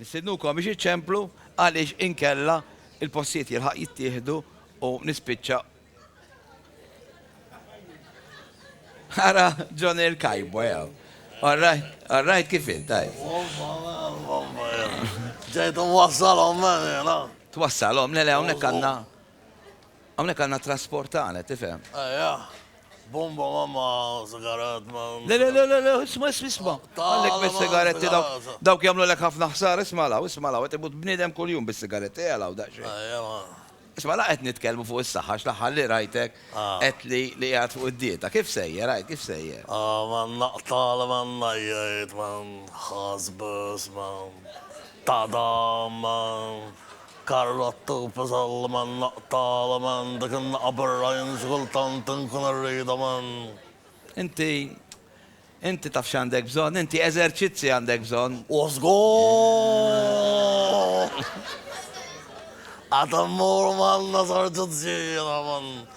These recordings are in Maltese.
Nistednukom biex iċċemplu għaliex inkella il-postijiet jilħaq jittieħdu u nispiċċa Ara John il kajbo jaw. Alright, alright kif int, tajb. Ġejtu wassalhom mela. Twassalhom, le le hawnhekk għandna. Hawnhekk għandna trasport tagħna, tifhem. Ajja. Bomba mamma sigaret ma. Le le le le isma' isma' isma'. Għalhekk bis-sigaretti dawk dawk jagħmlulek ħafna ħsara isma' law isma' law qed imut bniedem kuljum bis-sigaretti ejja law daqsxejn. Ajja ma. Isma' la qed nitkellmu fuq is-saħħa għax l-aħħar li rajtek qed li li qiegħed fuq id-dieta. Kif sejjer għid kif sejjer? Ah ma naqta' li ma ngħajjit ma nħassbes ma tadam ma Carlo Attufi żall man naqtala man dik in-naqa birra jien xi kultant inkun irridha man. Inti inti taf x'għandek bżonn, inti eżerċizzi għandek bżonn. U żgur! Qed immur man eżerċizzi jiena man.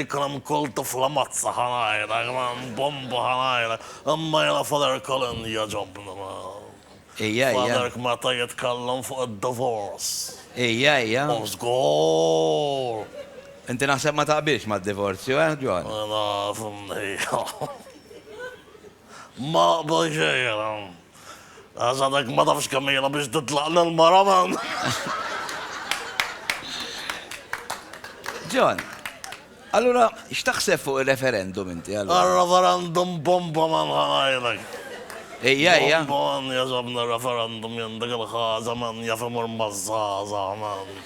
Ikram kull tifla mazza ħa ngħidlek man, bomba ħa ngħidlek, imma jiena Father Colin jogħġobni man. Ija, ija. Father k meta jitkellem fuq id-divorce. Ija, ija. Oh żgur! Inti naħseb ma taqbilx mad-divorzju, eh John? Naf, mnejja. Ma għadha xejra. Għax għadek ma tafx kemm ilha biex titlaq lil mara man. John, allura x'taħseb fuq ir-referendum inti allura? Għal-referendum bomba man ħanajlek. Ejja, ejja. Bomba man jazabna referendum jendek il-ħaza man jafimur mazzaza man.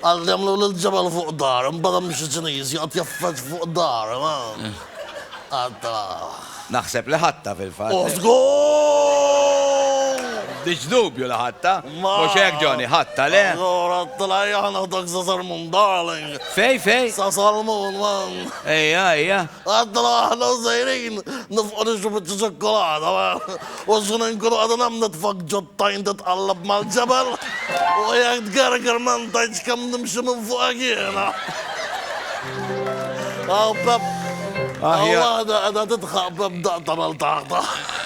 Għal jagħmlu lil ġebel fuq dar, imbagħad hemm xi Ċiniż joqgħod jeffeġ fuq dar, għadda. Naħseb li ħadtha fil-fatt. Oh żgur! M'għandix dubju li ħadtha. Mhux hekk Johnny, ħadtha le? Allura għadtilha ejja ħa naħdok sa Salmun darling. Fej fej? Sa Salmun man. Ejja ejja. Għadtilha aħna sejrin nifqu nixru biċċa ċokkolata. U x'nu inkunu qed nagħmel nitfgħek ġo t-tajn titqallab mal-ġebel, u jekk tgerger ma ntgħidx kemm nimxi minn fuqek jiena. Hawn Pepp, hawn waħda qiegħda tidħaq Pepp daqq tagħmel taħtaħ.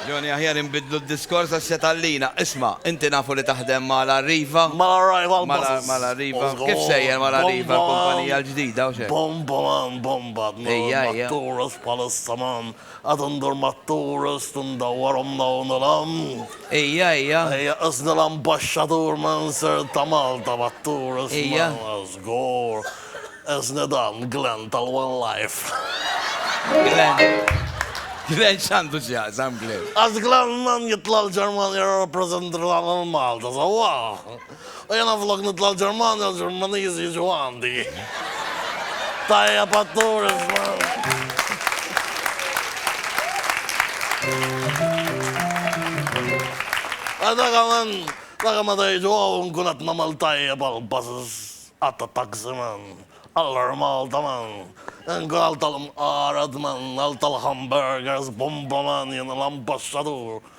Johnny aħjar inbiddlu d-diskors għax se tgħallina. Isma', inti nafu li taħdem ma' l-Arriva. Ma' l-Arriva l-Buses. Ma' l-Arriva. Kif sejjer ma' l-Arriva l-kumpanija l-ġdida u xejn? Bombolan, bomba, tmur ma' Tourist Palace, Saman. Għad indur mat-tourist u ndawwarhom dawn il-għand. Ejja, ejja. Ejja, qisni l-Ambaxxatur minn Sir ta' Malta mat-tourist minn. Ejja. Żgur. Qisni dan, Glenn tal-One Life. Glenn. Glenn x'għandu x'jaqsam Glenn? Għax Glenn Mann jitla' l-Ġermanja jirrappreżentrna lil Malta sewwa. U jiena flok nitla' l-Ġermanja l-Ġermaniżi jiġu għandi. Tajjeb għat-tour iż-żmien. Dak meta jiġu hawn nkun qed nagħmel tajjeb għall-buses għat-taxi man, għall-Air Malta man, inkun għal tal-mqared man, għal tal-hamburgers, bomba man, jiena l-ambaxxatur.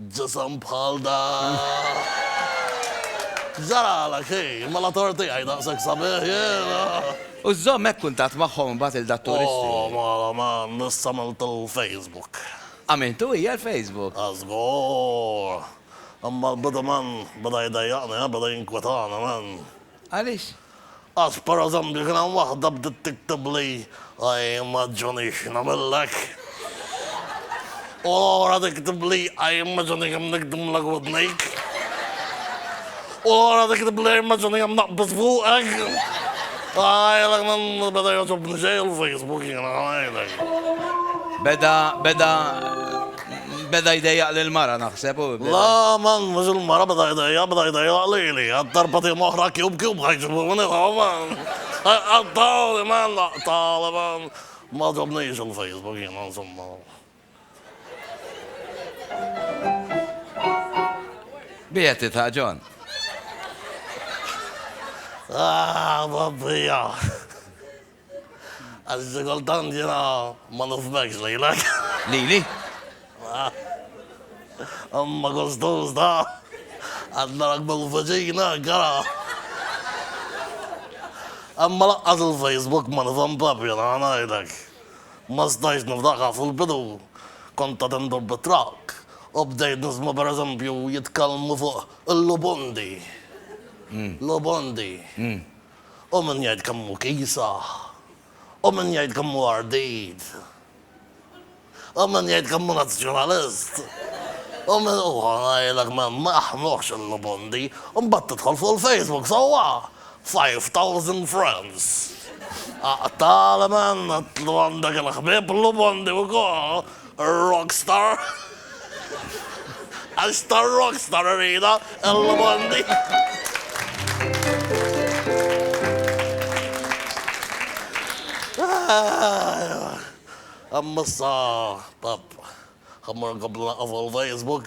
Ġisem bħal dak. X'ġaralek hi? Mela torti hi daqshekk sabiħ jien. U żżomm hekk kuntatt magħhom imbagħad lil dat turisti. Oh mela man, issa għamilt il-Facebook. Għamiltu hi għall-Facebook? Ah żgur. Imma l-bidu man beda jdejjaqni, beda jinkwetani man. Għaliex? Għax pereżempju kien hemm waħda bdiet tiktibli, I immaġini x'nagħmillek. U l-oħra tiktibli, I immaġini kemm nikdmlek widnejk. U l-oħra tiktibli, I immaġini kemm naqbis fuqek. Ngħidlek ma beda jogħġobni xejn il-Facebook jiena, ngħidlek. Beda, beda. Beda jdejjaq lill-mara, naħseb, u. Le, man, mhux il-mara beda jdejjaq, beda jdejjaq lili. Għad darba tim oħra Cube Cube ħa jġibuni hawn, man. Qattgħuli, man, qattgħuli, man. Ma għaġobnix il-Facebook jiena, insomma. B'hi qed tidħaq, John? Aah, tgħaddija. Għax xi kultant jiena ma nifhmekx lilek. Lili? Imma kull Tużda qed narak mill-viċin hekk, ara. Imma lanqas il-Facebook ma nifhem proprju, nara ngħidlek. Ma stajtx niftaħha fil-bidu kont qed indur bit-trakk u bdejt nisma' pereżempju jitkellmu fuq il-lubundi. Lubundi. Hu min jgħid kemm hu kiesaħ. Hu min jgħid kemm hu ardit. Hu min jgħid kemm hu nazzjonalist. Hu min hu ngħidlek ma jħanuhx il-lubundi. U mbagħad tidħol fuq il-Facebook sewwa, five thousand friends. Aqtgħali man, għandek il-ħbieb lubundi wkoll. Rockstar! Għax ta' rockstar irridha l-lmandi! Imma issa, Pepp, ħa mmur nkompli naqqaf fuq il-Facebook.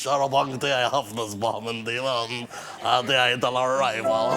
Xarabank tiegħi ħafna sbaħ minn din hawn ah tiegħi tal-arrival.